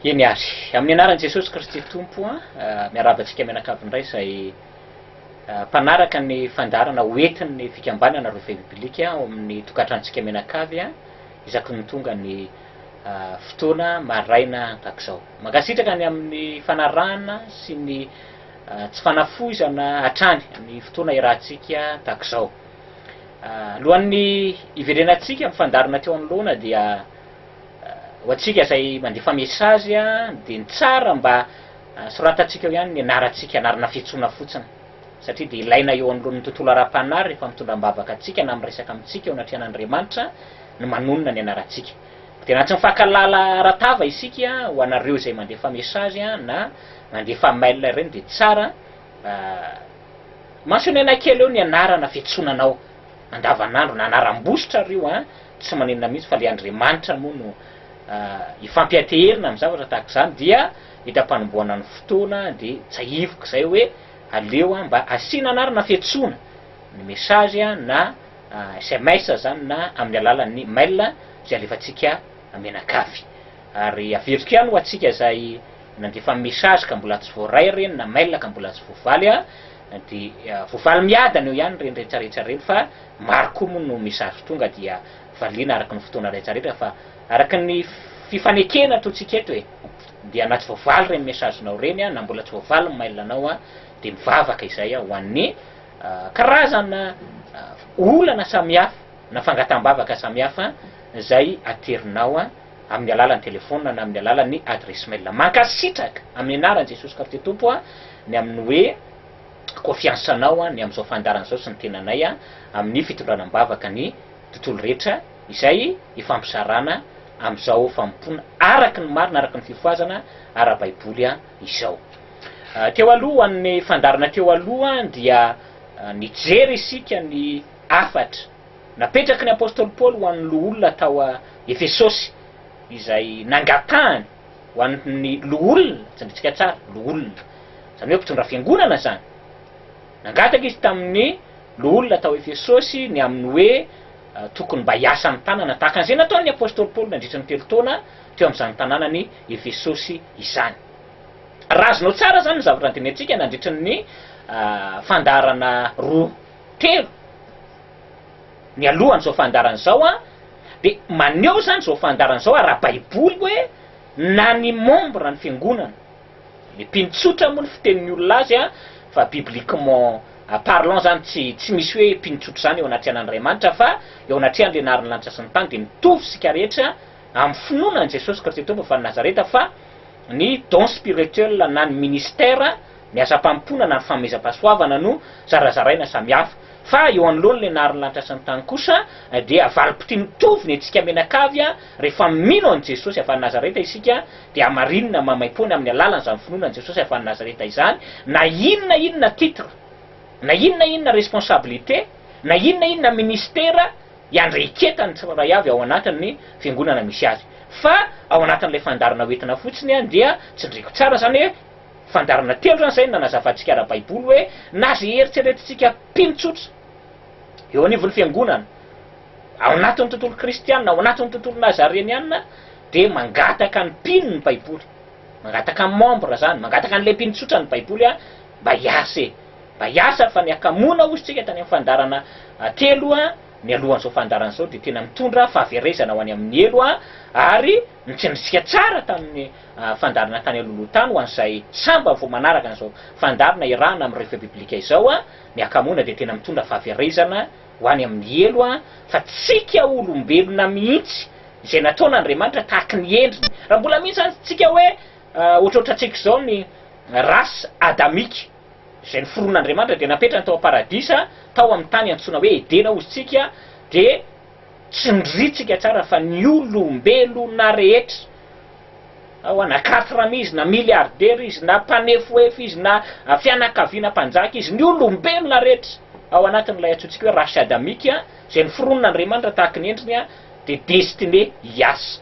Eny ary. Amin'ny anaran'i Jesosy Kristy Tompo, miarahaba antsika mianakavy indray izay mpanaraka ny fandaharana hoentin'ny fikambanana Revue Biblique ao amin'ny tokantranontsika mianakavy, isaky ny tonga ny fotoana maraina tahak'izao. Mankasitraka ny amin'ny fanarahana sy ny tsy fanafoizana hatrany ny fotoana iarahantsika tahak'izao. Alohan'ny hiverenantsika amin'ny fandaharana teo anoloana dia ho antsika izay mandefa message dia ny tsara mba soratantsika eo ihany ny anarantsika, anarana fiantsoana fotsiny satria dia ilaina eo anoloan'ny tontolo ara-panahy rehefa mitondra am-bavaka antsika na miresaka amintsika eo anatrehan'Andriamanitra, ny manonona ny anarantsika. Dia na tsy mifankalala ara-tava isika, ho anareo izay mandefa message na mandefa mail ireny dia tsara mentionner-na kely eo ny anarana fiantsonanao andavanandro na anaram-bositra ary io tsy maninona mihitsy fa ilay Andriamanitra moa no ifampianteherina amin'ny zavatra tahaka izany dia hita mpanomboana ny fotoana dia tsahiviko izay hoe aleo mba asiana anarana fiantsoana ny message na sms izany na amin'ny alalan'ny mail izay alefantsika mianakavy. Ary averiko ihany ho antsika izay nandefa message ka mbola tsy voaray ireny na mail ka mbola tsy voavaly dia voavaly miadana eo ihany ireny rehetrarehetra ireny fa maro koa moa no message tonga dia valiana araka ny fotoana rehetrarehetra fa araka ny fifanekena ataontsika eto e! dia na tsy voavaly ireny message-nao ireny na mbola tsy voavaly ny mail-nao dia mivavaka izay ho an'ny karazana olana samihafa na fangataham-bavaka samihafa izay aterinao amin'ny alalan'ny telefaonina na amin'ny alalan'ny adresse mail. Mankasitraka amin'ny anaran'i Jesosy Kristy Tompo ny amin'ny hoe kofiansanao ny amin'izao fandaharana izao sy ny tenanay amin'ny fitondrana am-bavaka ny tontolo rehetra izay ifampizarana amin'izao fanompoana araka ny marina, araka ny fifohazana ara-baiboly. izao. Teo aloha, ho an'ny fandaharana teo aloha, dia nijery isika ny hafatra napetraky ny apostoly Paoly ho an'ny loholona tao Efesosy, izay nangatahany ho an'ny loholona, tsindrintsika tsara, loholona, izany hoe mpitondra fiangonana izany. Nangataka izy tamin'ny loholona tao Efesosy ny amin'ny hoe tokony mba hiasa amin'ny tanana, tahaka an'izay nataon'ny apostoly Paoly nandritra ny telo taona, teo amin'izany tanànan'i Efesosy izany. Raha azonao tsara izany ny zavatra nandinihantsika nandritra ny fandaharana roa telo nialohan'izao fandaharana izao, dia maneho izany izao fandaharana izao ara-baiboly hoe na ny membre ny fiangonana, le mpino tsotra moa ny fitenin'ny olona azy fa bibliquement parlant izany tsy tsy misy hoe mpino tsotra izany eo anatrehan'Andriamanitra fa eo anatrehan'ilay naharin'ny lanitra sy ny tany dia mitovy isika rehetra, Amin'ny finoana an'i Jesosy Kristy Tompo avy any Nazareta fa ny don spirituel na ny ministère, ny asam-pampoina na ny fanomezam-pahasoavana no zarazaraina samy hafa. Fa eo anoloan'ny lenarin'ny lanitra sy ny tany kosa dia valim-pitia mitovy ny antsika mianakavy rehefa mino an'i Jesosy avy any Nazareta isika dia hamarinina maimaimpoana amin'ny alalan'izany finoana an'i Jesosy avy any Nazareta izany na inona inona titre na inona inona responsabilité na inona inona ministère iandraiketany ny tsirairay avy ao anatin'ny fiangonana misy azy. Fa ao anatin'ilay fandaharana hoentina fotsiny ihany dia tsindriako tsara izany hoe fandaharana telo izany izay no nanazavantsika ara-baiboly hoe na izay eritreretintsika mpino tsotra eo anivon'ny fiangonana ao anatin'ny tontolo kristiana, ao anatin'ny tontolo nazareniana dia mangataka ny mpino ny baiboly, mangataka ny membre izany, mangataka an'ilay mpino tsotra ny baiboly mba hiasa e. Mba hiasa fa ny hakamoana hozy tsika tany amin'ny fandarana telo mialohan'izao fandarana izao dia tena mitondra fahaverezana ho any amin'ny helo ary nitsinjitsika tsara tamin'ny fandarana tany alohaloha tany ho an'izay sambany vao manaraka an'izao fandarana iarahana amin'ny Refe-biblika izao ny hakamoana dia tena mitondra fahaverezana ho any amin'ny helo fa tsika olombelona mihitsy izay nataon' Andriamanitra tahaky ny endriny raha mbola misy izany tsika hoe ohatrohatrantsika izao ny race adamique izay noforon'Andriamanitra dia napetrany tao am-paradisa tao amin'ny tany antsoina hoe Edena ozy tsika dia tsindritsika tsara fa ny olombelona rehetra na hoa na quatrem izy na milliardaire izy na mpanefoefo izy na fianakaviana mpanjaka izy ny olombelona rehetra ao anatin'ilay antsointsika hoe race adamique izay noforon'Andriamanitra tahaka ny endriny dia destiné hiasa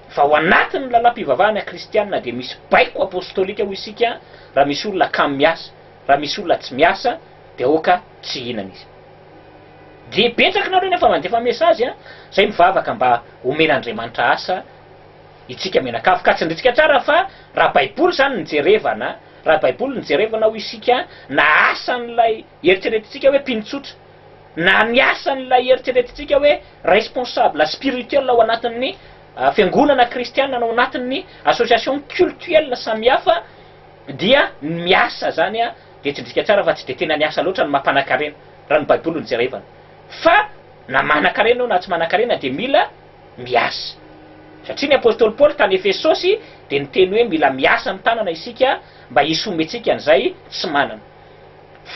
Fa ao anatin'ny lalam-pivavahana kristiana dia misy baiko apostolika hoy isika raha misy olona kamo miasa, raha misy olona tsy miasa dia aoka tsy hihinana izy. Dia betsaka nareo nefa mandefa message a, zay mivavaka mba homen'Andriamanitra asa itsika mianakavy ka tsindritsika tsara fa raha baiboly zany no jerevana, raha baiboly no jerevana hoy isika na asan'ilay eritreretintsika hoe mpino tsotra, na ny asan'ilay eritreretintsika hoe responsable spirituel ao anatin'ny fiangonana kristiana na ao anatin'ny association cultuelle samihafa dia ny miasa zany dia tsindrika tsara fa tsy dia tena ny asa loatra no mampanakarena raha ny baiboly no jerevana fa na manakarena eo na tsy manakarena dia mila miasa satria ny apostoly paoly tany efesosy dia niteny hoe mila miasa ny tanana isika mba hisomentsika an'izay tsy manana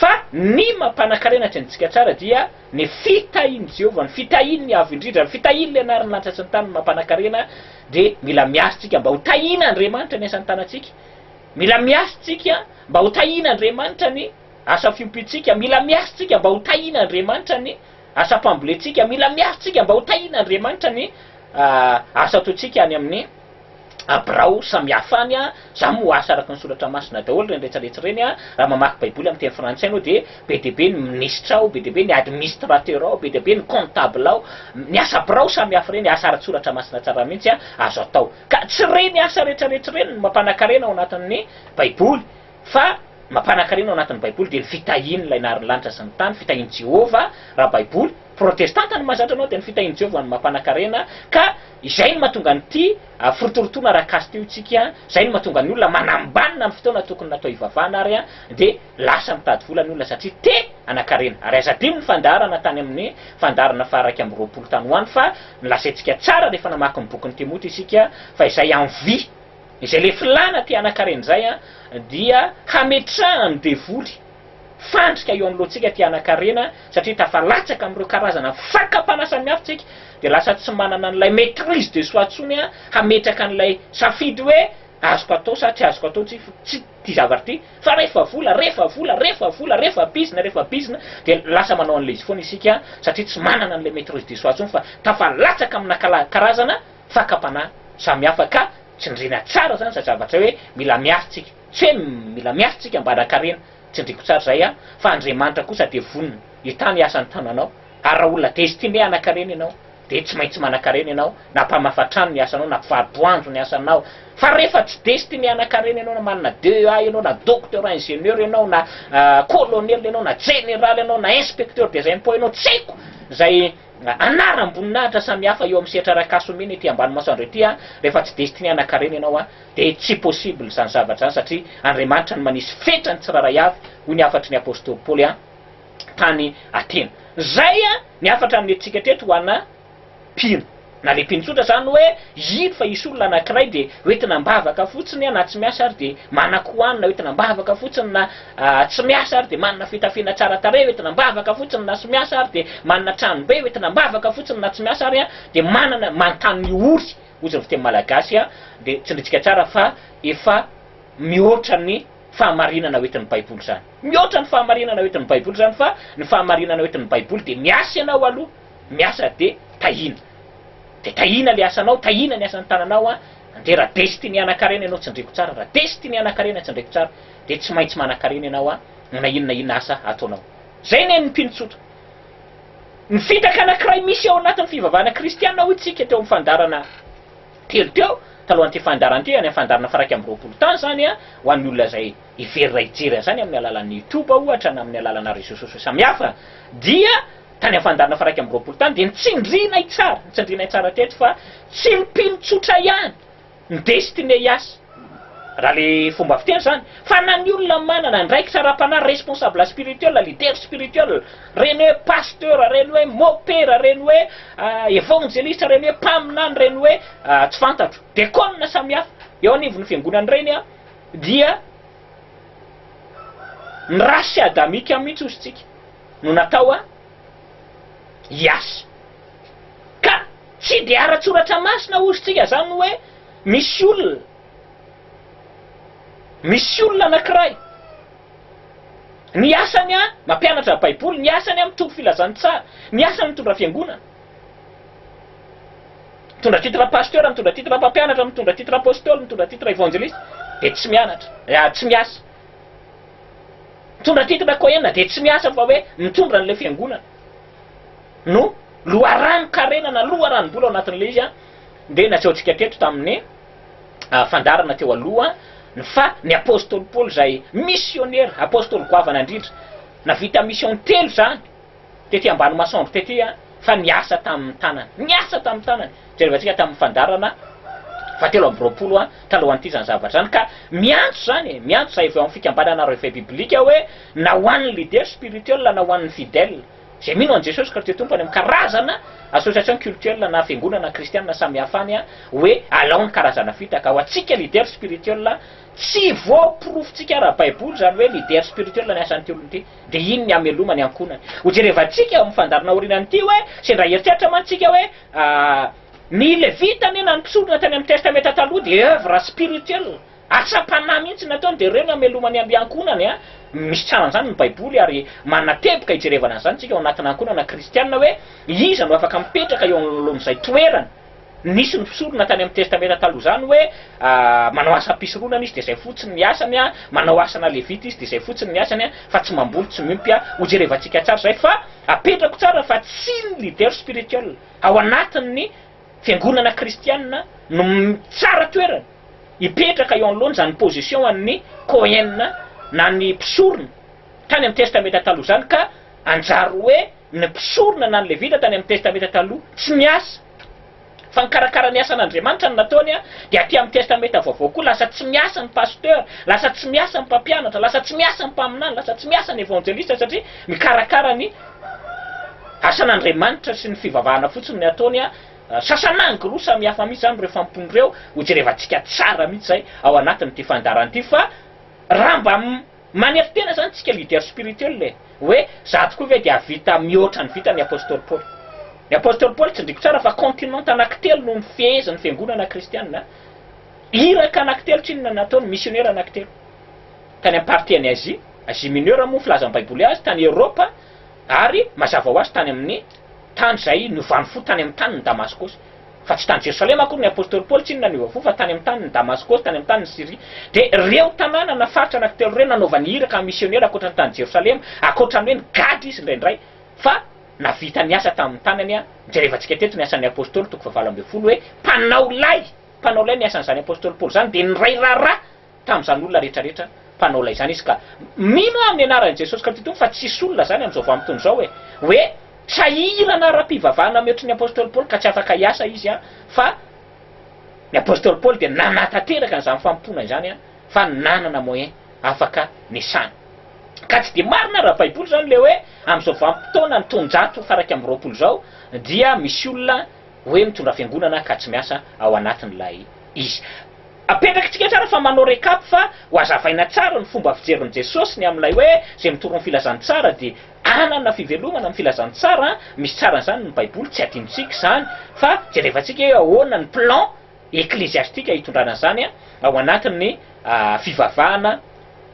Fa ny mampanan-karena atsy amintsika tsara dia ny fitahian'i Jehovah, ny fitahian'ny Avo Indrindra, ny fitahian'ny Lenarin'ny lanitra sy ny tany no mampanan-karena, dia mila miasa isika mba ho tahian'Andriamanitra ny asan'ny tanantsika, mila miasa isika mba ho tahian'Andriamanitra ny asa fiompiantsika, mila miasa isika mba ho tahian'Andriamanitra ny asam-pambolentsika, mila miasa isika mba ho tahian'Andriamanitra ny asa ataontsika any amin'ny. a birao samihafa any a, za moa asa araky ny soratra masina daholo ireny retsaretsa ireny a, raha mamaky baiboly amin'ny teny frantsay anao dia be dia be ny minisitra ao, be dia be ny administrateur ao, be dia be ny comptable ao, ny asa birao samihafa ireny, asa ara-tsoratra masina tsara mihitsy a, azo atao, ka tsy ireny asa retraretra ireny no mampanakarena ao anatin'ny baiboly Fa mampanan-karena ao anatin'ny Baiboly dia ny fitahiany ilay nahary ny lanitra sy ny tany, fitahian'i Jehovah, raha Baiboly protestanta no mahazatra anao dia ny fitahian'i Jehovah no mampanan-karena, ka izay no mahatonga an'ity firotorotoana ara-caste io tsika, izay no mahatonga ny olona manambanina ny fotoana tokony natao hivavahana ary dia lasa mitady vola ny olona satria te hanan-karena. Ary aza adino ny fandaharana tany amin'ny fandaharana faha iraika amby roapolo tany ho any fa nolazaintsika tsara rehefa namaky ny bokin'i Timoty isika fa izay envie, Izay le filana mpianakarena izay an dia hametrahan'ny devoly fandrika eo anoloantsika mpianakarena satria tafalatsaka amin'ireo karazana fakam-panahy samihafa isika dia lasa tsy manana an'ilay maitrise de soi intsony hametraka an'ilay safidy hoe azoko atao sa tsy azoko atao ity zavatra ity fa rehefa vola rehefa vola rehefa vola rehefa bizina rehefa bizina dia lasa manao an'ilay izy foana isika satria tsy manana an'ilay maitrise de soi intsony fa tafalatsaka amina karazana fakam-panahy samihafa ka tsindriana tsara zany zay zavatra hoe mila miasa tsika tsy hoe mila miasa tsika mba hanan-karena tsindriko tsara zay an fa Andriamanitra kosa dia vonona hitana ny asan'ny tananao ary raha olona destine hanan-karena ianao dia tsy maintsy manan-karena ianao na mpamafa trano ny asanao na mpivaro-boanjo ny asanao fa rehefa tsy destine hanan-karena ianao na manana DEA ianao na docteur ingénieur ianao na colonel ianao na jeneraly ianao na inspecteur des impôts ianao tsy haiko zay anaram-boninahitra samihafa eo amin'ny sehatra iray ka sombina ety ambany maso andreo ity an! rehefa tsy destine hanankarena ianao an! dia tsy possible izany zavatra izany satria Andriamanitra no manisy fetra ny tsirairay avy hoy ny hafatry ny apostoly Paoly an! tany Atena izay an! ny hafatra nomentsika teto ho ana mpino na le mpino tsotra izany hoe hino fa hisy olona anankiray dia hoentina am-bavaka fotsiny an! na tsy miasa ary dia manan-ko hanina hoentina am-bavaka fotsiny na tsy miasa ary dia manana fitafiana tsara tarehy ho entina am-bavaka fotsiny na tsy miasa ary dia manana tranom-be ho entina am-bavaka fotsiny na tsy miasa ary dia manana manontany ny ory hozy ny fiteny malagasy dia tsindritsika tsara fa efa mihoatra ny fahamarinana ho entin'ny baiboly izany mihoatra ny fahamarinana ho entin'ny baiboly izany fa ny fahamarinana ho entin'ny baiboly dia miasa ianao aloha miasa dia tahiana dia tahiana ilay asanao tahiana ny asan'ny tananao an dia raha dia sy tiany hanan-karena ianao tsindriko tsara raha dia sy tiany hanan-karena tsindriko tsara dia tsy maintsy manankarena ianao an, na inona na inona asa ataonao. Izay ny an'ny mpino tsotra. Ny fitaka anankiray misy ao anatin'ny fivavahana kristiana hoy tsika teo amin'ny fandaharana telo teo, talohan'ity fandaharana ity, any amin'ny fandaharana faha iraika amby roapolo tany izany an, ho an'ny olona izay hiverina hijery an'izany amin'ny alalan'ny youtube ohatra na amin'ny alalana réseaux sociaux samihafa dia tany amin'ny fandaharana faha iraika amby roapolo tany dia ny tsindrinay tsara, ny tsindrinay tsara teto fa tsy ny mpino tsotra ihany, ny destiné hiasa, raha le fomba fiteny zany, fa na ny olona manana andraikitra ara-panahy, responsable spirituel, leader spirituel, reny hoe pasteur, reny hoe mopera, reny hoe evangeliste, reny hoe mpaminany, reny hoe tsy fantatro, dekona samihafa eo anivon'ny fiangonana reny an, dia ny race adamique mihitsy ozy tsika no natao an, hiasa. Ka tsy dia ara-tsoratra masina hozy tsika zany hoe misy olona, misy olona anakiray, ny asany an mampianatra baiboly, ny asany an mitompo filazantsara, ny asany mitondra fiangonana, mitondra titre pasteur, mitondra titre mpampianatra, mitondra titre apostoly, mitondra titre evangeliste, dia tsy mianatra, ah, tsy miasa. Mitondra titre Cohen dia tsy miasa fa hoe mitondra an'ilay fiangonana no loharanon-karena na loharanom-bola ao anatin'ilay izy dia nasehontsika teto tamin'ny fandaharana teo aloha ny fa ny apostoly Paoly izay misionera, apostoly goavana indrindra, navita mission telo izany. tety ambany masoandro tety fa niasa tamin'ny tanany, niasa tamin'ny tanany, jereo antsika tamin'ny fandaharana fahatelo amby roapolo talohan'ity izany zavatra izany ka miantso izany e, miantso izay avy ao amin'ny fikambanana Reveil Biblique hoe na ho an'ny leader spirituel na ho an'ny fidèle izay mino an'i Jesosy Kristy Tompo any amin'ny karazana association cultuelle na fiangonana kristianina samihafa any hoe alao ny karazana fitaka ho antsika leader spirituel tsy voaporofontsika ara-baiboly izany hoe leader spirituel ny asan'ity olona ity. Dia iny ny hameloma ny ankohonany. Ho jerevantsika eo amin'ny fandaharana aorianany ity hoe, sendra hieritreritra mantsy isika hoe, ny Levita anie na ny mpisorona tany amin'ny Testamenta Taloha dia œuvre spirituelle, asam-panahy mihitsy no nataony, dia ireo no hameloma ny ankohonany. Misy tsaran'izany ny Baiboly ary manateboka hijerevana an'izany isika ao anatina ankohonana kristiana hoe, iza no afaka mipetraka eo anoloan'izay toerana. Nisy ny mpisorona tany amin'ny Testamenta Taloha izany hoe, Manao asam-pisoronana izy, dia izay fotsiny ny asany, manao asana Levita izy, dia izay fotsiny ny asany, fa tsy mamboly, tsy miompy. Hojerevantsika tsara izay, fa apetrako tsara fa tsy ny leader spirituel ao anatin'ny fiangonana kristiana no tsara toerana hipetraka eo anoloana izany position an'ny Kohen na ny mpisorona tany amin'ny Testamenta Taloha izany, ka hanjary hoe, Ny mpisorona na ny Levita tany amin'ny Testamenta Taloha tsy miasa, fa nikarakara ny asan'Andriamanitra no nataony, dia aty amin'ny Testamenta Vaovao koa lasa tsy miasa ny pasteur, lasa tsy miasa ny mpampianatra, lasa tsy miasa ny mpaminany, lasa tsy miasa ny evanjelista satria mikarakara ny asan'Andriamanitra sy ny fivavahana fotsiny ny ataony, sasan'angy roa samy hafa mihitsy izany ireo fampony ireo, hojerevantsika tsara mihitsy izay ao anatin'ity fandaharana ity fa raha mba Manetry tena zany tsika leader spirituel e! Hoe za tokoa ve de hahavita mihoatra ny vitan'i Apostoly Paoly? Ny Apostoly Paoly tsindriko tsara fa continent anankitelo no nifehezin'ny fiangonana kristianina, iraka anankitelo tsy inona nataony, misionera anankitelo. Tany amin'ny partie an'i Asie, Asie Mineure moa ny filazan'ny baiboly azy, tany Eoropa, Ary mazava ho azy tany amin'ny tany izay niovany fo tany amin'ny tanin'i Damaskosy, fa tsy tany Jerosalema akory ny apostoly Paoly, tsy inona no niova fo fa tany amin'ny tanin'i Damaskosy, tany amin'ny tanin'i Syria. Dia ireo tanàna na faritra anankitelo ireo nanaovany iraka amin'ny misionera ankoatra ny tany Jerosalema, ankoatra ny hoe nigadra izy indraindray fa navita ny asa tamin'ny tanany. A Jerevantsika teto ny asan'ny apostoly, toko fahavalo ambin'ny folo, hoe mpanao lay, mpanao lay ny asan'izany apostoly Paoly izany, dia niray raharaha, tamin'izany olona rehetrarehetra mpanao lay izany izy ka mino aho amin'ny anaran'i Jesosy Kristy Tompo fa tsy hisy olona izany amin'izao vanim-potoana izao e! hoe sahirana ara-pivavahana mihoatry ny Apostoly Paoly ka tsy afaka hiasa izy an! fa ny Apostoly Paoly dia nanatanteraka an'izany fanompoana izany an! fa nanana moyen afaka niasana ka tsy dia marina ara-baiboly izany ilay hoe amin'izao vanim-potoana ny taonjato faraika amby roapolo izao dia misy olona hoe mitondra fiangonana ka tsy miasa ao anatin'ilay izy Apetrakitsika tsara fa manao recap fa ho azavaina tsara ny fomba fijerin'i Jesosy ny amin'ilay hoe izay mitory ny filazantsara dia hanana fivelomana amin'ny filazantsara an, misy tsaran'izany ny baiboly tsy adinontsika izany fa jerevantsika hoe ahoana ny plan ekleziastika hitondrana an'izany ao anatin'ny fivavahana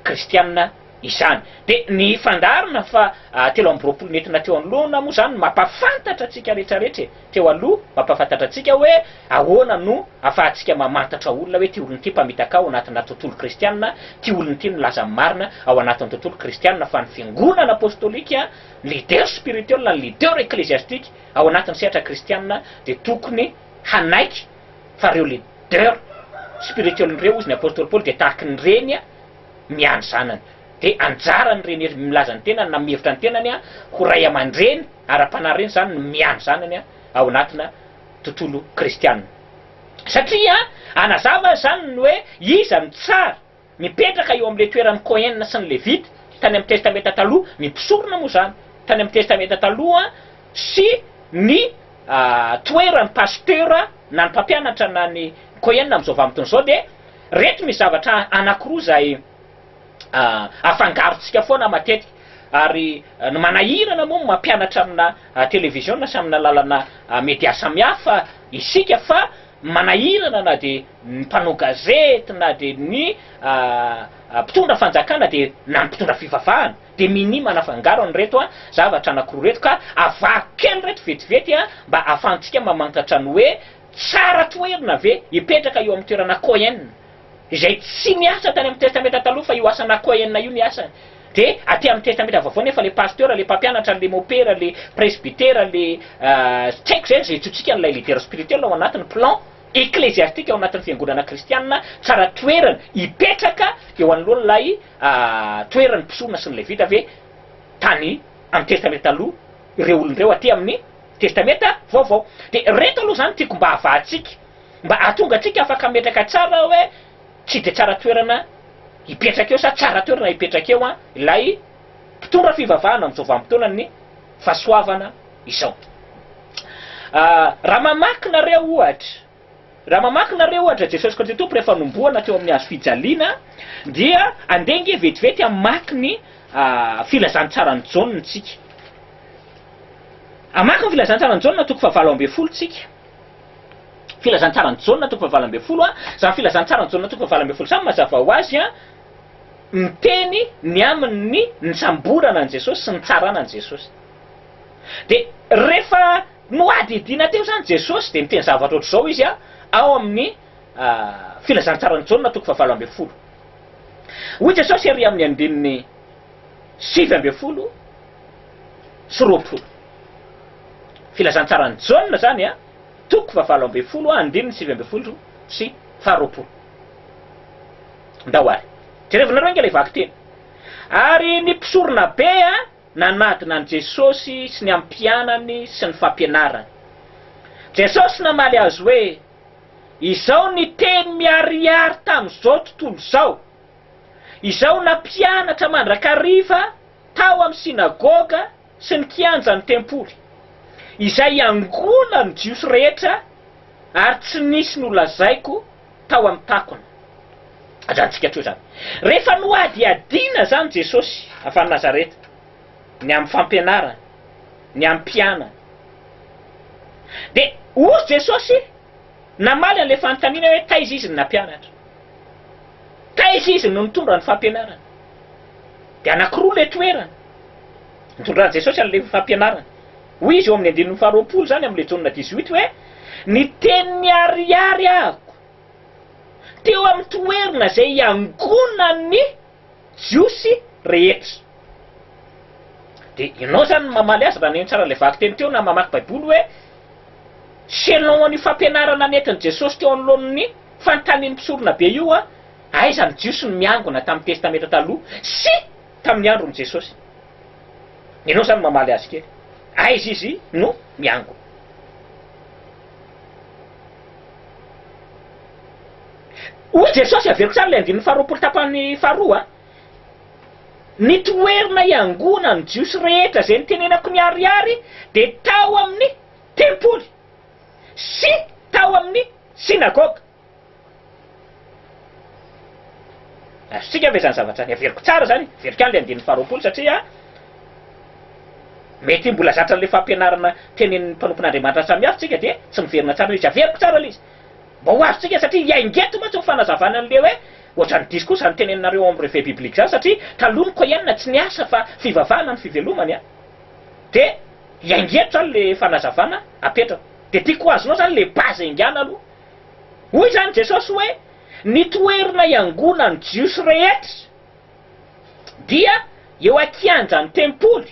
kristiana izany. Dia ny fandaharana fa telo amby roapolo nentina teo anoloana moa izany no mampahafantatra antsika rehetrarehetra e! teo aloha mampahafantatra antsika hoe ahoana no ahafahantsika mamantatra olona hoe ity olona ity mpamitaka ao anatina tontolo kristiana, ity olona ity milaza ny marina ao anatin'ny tontolo kristiana fa ny fiangonana apostolika, ny leader spirituel, ny leader ecclesiastique ao anatin'ny sehatra kristiana dia tokony hanaiky fa ireo leader spirituel ireo hozy ny apostoly Paoly dia tahaka ny reny miandry zanany. Dia anjaran'ny reny milaza ny tenany na mihevitra ny tenany ho ray aman-dreny ara-panahy ireny izany ny miandry zanany ao anatina tontolo kristiana. Satria hanazava izany ny hoe iza no tsara. Mipetraka eo amin'ilay toeran'ny Kohen sy ny Levita tany amin'ny Testamenta Taloha ny mpisorona moa izany tany amin'ny Testamenta Taloha sy ny toeran'ny pasitera na ny mpampianatra na ny Kohen amin'izao vanim-potoana izao dia Reto misy zavatra anankiroa izay afangarontsika foana matetika ary ny manahirana moa ny mampianatra amina televiziona sy amina lalana media samihafa isika fa manahirana na dia ny mpanao gazety na dia ny mpitondra fanjakana dia na ny mpitondra fivavahana dia minia manafangaro an'ireto zavatra anankiroa ireto ka avaro kely ireto vetivety mba ahafahantsika mamantatra ny hoe Tsara toherina ve hipetraka eo amin'ny toerana Cohen, izay tsy niasa tany amin'ny Testamenta Taloha fa io asana Cohen io ny asany? Dia aty amin'ny Testamenta Vaovao nefa ilay pasteur, ilay mpampianatra, ilay mopera, ilay presbytera, ilay tsy haiko izay, izay antsointsika an'ilay leader spirituel ao anatiny, plan ecclesiastique ao anatin'ny fiangonana kristianina, tsara toerana hipetraka eo anoloan'ilay toeran'ny mpisoroana sy ny Levita ve tany amin'ny Testamenta Taloha? ireo olona ireo aty amin'ny Testamenta Vaovao. Dia ireto aloha izany tiako mba havahantsika, mba hahatonga antsika afaka hametraka tsara hoe tsy dia tsara toerana hipetraka eo sa tsara toerana hipetraka eo ilay mpitondra fivavahana amin'izao vanim-potoanan'ny fahasoavana izao. Raha mamaky nareo, ohatra, Raha mamaky nareo ohatra Jesosy Kristy Tompo rehefa nombohana teo amin'ny hazo fijaliana dia andeha ange vetivety hamaky ny filazantsaran'i Jaona tsika. Hamaky ny filazantsaran'i Jaona toko fahavalo ambin'ny folo tsika. Filazantsaran'i Jaona toko fahavalo ambin'ny folo a, izany filazantsaran'i Jaona toko fahavalo ambin'ny folo izany mazava ho azy a, miteny ny amin'ny nisamborana an'i Jesosy sy nitsarana an'i Jesosy. Dia rehefa Nohadihadiana teo izany Jesosy, dia niteny zavatra ohatr'izao Izy ao amin'ny Filazantsaran'i Jaona toko fahavalo ambin'ny folo. Hoy Jesosy ery amin'ny andininy sivy ambin'ny folo sy roa am-polo. Filazantsaran'i Jaona izany toko fahavalo ambin'ny folo andininy sivy ambin'ny folo sy faharoapolo. Ndao ary jerevinareo ange ilay vakiteny. Ary ny mpisoronabe. Nanadina an'i Jesosy sy ny amin'ny mpianany sy ny fampianarany. Jesosy namaly azy hoe, Izao ny teny miharihary tamin'izao tontolo izao, izao nampianatra mandrakariva tao amin'ny synagoga sy ny kianjan'ny tempoly, izay iangolan'ny Jiosy rehetra, ary tsy nisy nolazaiko, tao amin'ny takona. Ajanontsika hatreo izany. Rehefa nohadihadiana izany Jesosy avy any Nazareta, ny amin'ny fampianarany, ny amin'ny mpianany, dia hoy Jesosy, namaly an'ilay fanontaniana hoe taiza Izy no nampianatra? Taiza Izy no nitondra ny fampianarany? Dia anankiroa ilay toerana nitondran'i Jesosy an'ilay fampianarany. Hoy izy eo amin'ny andininy faharoapolo izany amin'ilay Jaona dix-huit hoe, Ny teny miharihary ahiko teo amin'ny toerna izay iangonan'ny Jiosy rehetra. Dia ianao izany no mamaly azy raha nino tsara ilay vakiteny teo na mamaky Baiboly hoe selon an'io fampianarana nentin'i Jesosy teo anoloan'ny fanontanian'ny mpisoronabe io, aiza ny Jiosy no miangona tamin'ny Testamenta Taloha sy tamin'ny andron'i Jesosy? Ianao zany mamaly azy kely. Aiza izy no miangona? Hoy Jesosy, averiko tsara ilay andininy faharoapolo tapany faharoa, Ny toerana iangonan'ny Jiosy rehetra izay nitenenako niharihary dia tao amin'ny tempoly sy tao amin'ny synagoga. Azontsika ve izany zavatra izany averiko tsara izany? Averiko ihany ilay andininy faharoapolo satria mety mbola zatra an'ilay fampianarana tenenin'ny mpanompon'Andriamanitra samihafa isika dia tsy miverina tsara ilay izy. Averiko tsara ilay izy mba ho azontsika satria i Aingeto mantsy no fanazavana an'ilay hoe ohatran'ny diso koa izany teneninareo ao amin'ny Revue Biblique izany satria taloha ny Koiana tsy niasa fa fivavahana no fivelomany an! Dia i Aingeto izany ilay fanazavana apetrako. Dia tiako ho azonao izany ilay base haingana aloha Hoy izany Jesosy hoe, Ny toerana iangonan'ny Jiosy rehetra dia eo an-kianjan'ny tempoly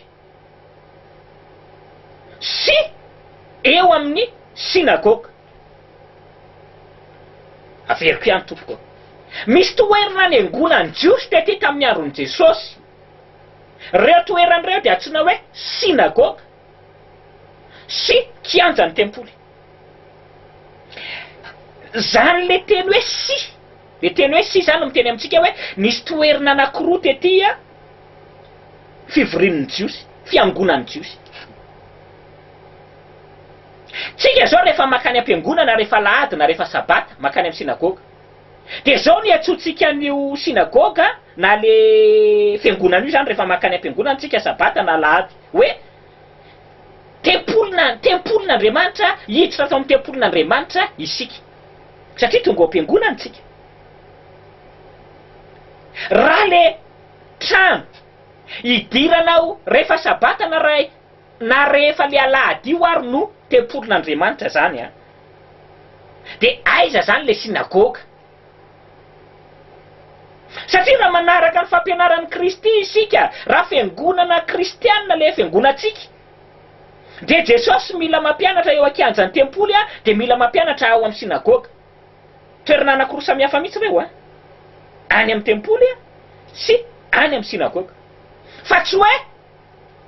sy eo amin'ny synagoga. Averiko ihany tompoko ô. Misy toerana niangonan'ny Jiosy tety tamin'ny andron'i Jesosy. Ireo toerana ireo dia antsoina hoe synagoga. sy kianja ny tempoly. Zany le teny hoe sy, le teny hoe sy zany no miteny amintsika hoe nisy toerna anakiroa tety a fivorian'ny jiosy, fiangonan'ny jiosy. Tsika zao refa makany ampiangonana refa alahady na refa sabata, makany am sinagoga. Dia izao no iantsoantsika an'io synagoga na le fiangonana io izany rehefa mankany am-piangonana tsika sabata na alahady hoe, Tempolina, tempolin'Andriamanitra, hiditra ato amin'ny tempolin'Andriamanitra isika. Satria tonga ao am-piangonana tsika. Raha le trano idiranao rehefa sabata na ray Na rehefa le alahady io ary no tempolin'Andriamanitra zany an! De aiza zany le synagoga? Satria raha manaraka ny fampianaran'i Kristy isika, raha fiangonana kristianina le fiangonantsika, de Jesosy mila mampianatra eo ankianjan'ny tempoly an, de mila mampianatra ao amin'ny synagoga. Toerana anakiroa samihafa mihitsy reo an! Any amin'ny tempoly an, sy any amin'ny synagoga. Fa tsy hoe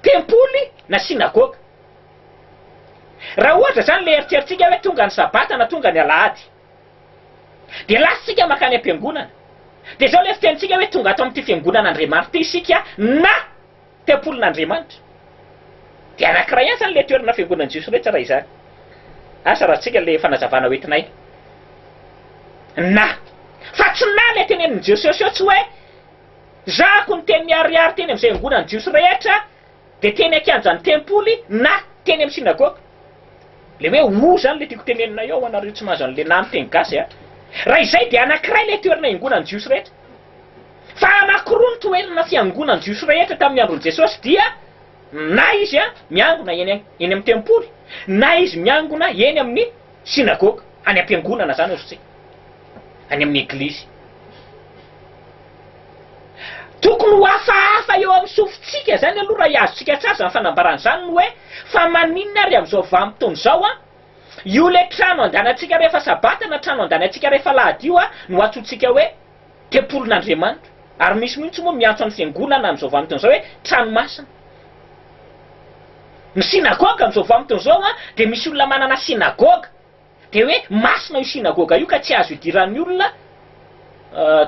tempoly na synagoga. Raha ohatra izany ilay eritreritsika hoe tonga ny sabata na tonga ny alahady. Dia lasantsika mankany am-piangonana. Dia izao ilay fitenintsika hoe tonga ato amin'ity fiangonan'Andriamanitra ity isika na tempolin'Andriamanitra. Dia anankiray ihany izany ilay toerana fiangonan'ny Jiosy rehetra raha izany. Asa ratsika ilay fanazavana ho entinay. Na. Fa tsy na ilay tenenin'i Jesosy eo tsy hoe. Zahako niteny miharihary teny amin'izay angonan'ny Jiosy rehetra, dia teny an-kianjan'ny tempoly na teny amin'ny synagoga. Ilay hoe o izany ilay tiako tenenina eo ho anareo tsy mahazo an'ilay na amin'ny teny gasy a. Raha izay dia anankiray ilay toerana iangonan'ny Jiosy rehetra. Fa anankiroa ny toerana fiangonan'ny Jiosy rehetra tamin'ny andron'i Jesosy dia na izy miangona eny amin'ny tempoly na izy miangona eny amin'ny synagoga, any am-piangonana izany ozy tsy any amin'ny eglizy. Tokony ho hafahafa eo amin'ny sofintsika izany aloha raha hiazontsika an-tsazy ny fanambarana izany ny hoe, fa maninona ary amin'izao vanim-potoana izao an, io ilay trano andalantsika rehefa sabata na trano andalantsika rehefa alahady io an, no antsointsika hoe tempolin'Andriamanitra. Ary misy mihitsy moa miantso ny fiangonana amin'izao vanim-potoana izao hoe trano masina. Ny synagoga amin'izao vanim-potoana izao an, dia misy olona manana synagoga. Dia hoe masina io synagoga io ka tsy azo idiran'ny olona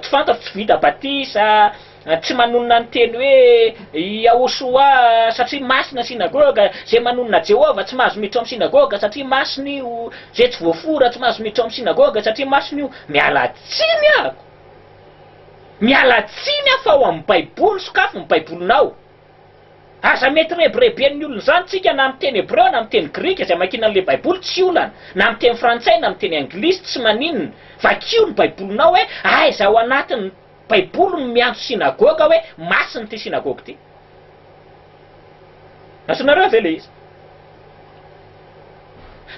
tsy fantatra, tsy vita batisa, tsy manonona ny teny hoe Yahoshua satria masina ny synagoga, izay manonona Jehovah tsy mahazo miditra ao amin'ny synagoga satria masina io, izay tsy voafora tsy mahazo miditra ao amin'ny synagoga satria masina io. Miala tsiny aho! Miala tsiny aho fa ao amin'ny Baiboly, sokafy ny Baibolinao. Aza mety rebireben'ny olona izany tsika na amin'ny teny hebreo na amin'ny teny grika izay mankina an'ilay baiboly tsy olana, na amin'ny teny frantsay na amin'ny teny anglisy tsy maninona, vakio ny baibolinao hoe aiza ao anatin'ny baiboly no miantso synagoga hoe masina ity synagoga ity. Antsoinareo ve ilay izy?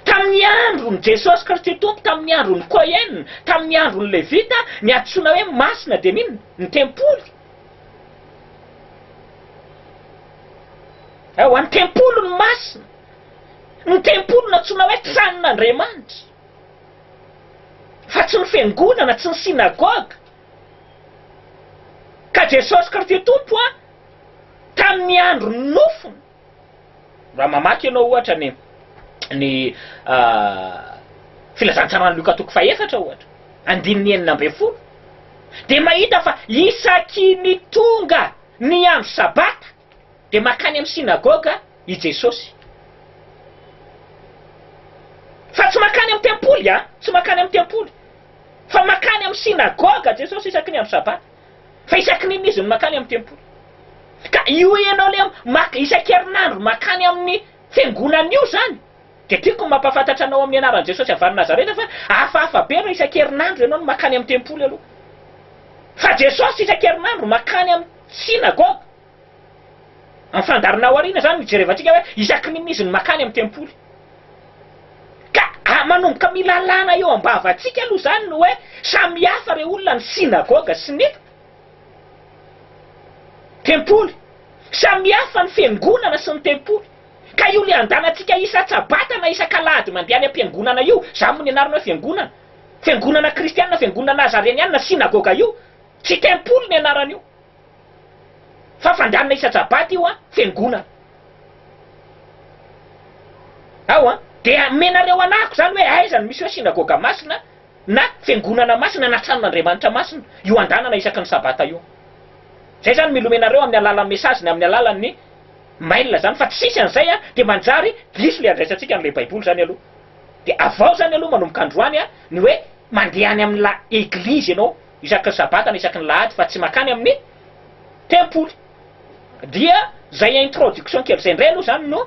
Tamin'ny andron'i Jesosy Kristy Tompo, tamin'ny andron'i Cohen, tamin'ny andron'ny Levita, ny antsoina hoe masina dia n'inona? Ny tempoly. Ewa, ny tempoliny masina, ny tempoliny nantsoina hoe tranon'Andriamanitra, fa tsy ny fiangonana, tsy ny synagoga. Ka Jesosy Kristy Tompo, tamin'ny andron'ny nofony, Raha mamaky ianao ohatra ny ny Filazantsaran'i Lioka toko fahefatra ohatra, andininy enina ambin'ny folo, dia mahita fa isaky ny tonga ny andro Sabata dia mankany amin'ny synagoga i Jesosy. Fa tsy mankany amin'ny tempoly an! Tsy mankany amin'ny tempoly. Fa mankany amin'ny synagoga Jesosy isaky ny andro Sabata. Fa isaky n'inona izy no makany amin'ny tempoly? Ka io ianao le maka isan-kerinandro makany amin'ny fiangonana io zany dia tiako ny mampahafantatra anao amin'ny anaran'i Jesosy avy any Nazareta fa hafahafa be raha isan-kerinandro ianao no makany amin'ny tempoly aloha. Fa Jesosy isan-kerinandro makany amin'ny synagogue. Amin'ny fandaharana aoriana izany no hijerevantsika hoe isakin'inona izy no makany amin'ny tempoly. Ka manomboka milalàna eo am-bavantsika aloha izany ny hoe samihafa ireo olona ny synagoga sy ny tempoly. Samihafa ny fiangonana sy ny tempoly. Ka io lian-dàlantsika isan-tsabata na isak'alahady mandeha any am-piangonana io, izany moa ny anarana hoe fiangonana. Fiangonana kristianina, fiangonana nazarianianina, synagoga io. Tsy tempoly ny anaran'io. Fa fandranona isa-jabaty io an fiangonana ao an, dia omenareo anahako izany hoe aiza no misy hoe synagoga masina na fiangonana masina na tranon'Andriamanitra masina io andanana isaky ny sabata io. Izay izany mila omenareo amin'ny alalan'ny message na amin'ny alalan'ny mail izany fa tsisy an'izay an dia manjary diso ilay andraisantsika an'ilay baiboly izany aloha. Dia avao izany aloha manomboka androany an ny hoe mandeha any amin'ilay eglizy ianao isaky ny sabata na isaky ny lahady fa tsy makany amin'ny tempoly dia zay introduction kely zay ndray aloha zany no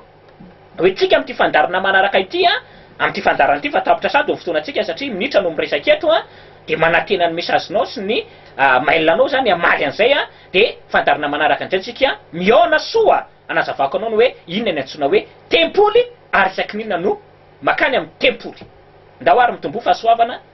ho entsika amin'ity fandaharana manaraka ity a, amin'ity fandaharana ity fa tapitra sahady ny fotoanantsika satria minitra no miresaka eto a, dia manantena ny message-nao sy ny mail anao zany hamaly an'izay a, dia fandaharana manaraka indray tsika mihaona soa anazavako anao ny hoe inona ny antsoina hoe tempoly ary isaky ny inona no makany amin'ny tempoly. Ndao ary mitomboa fahasoavana.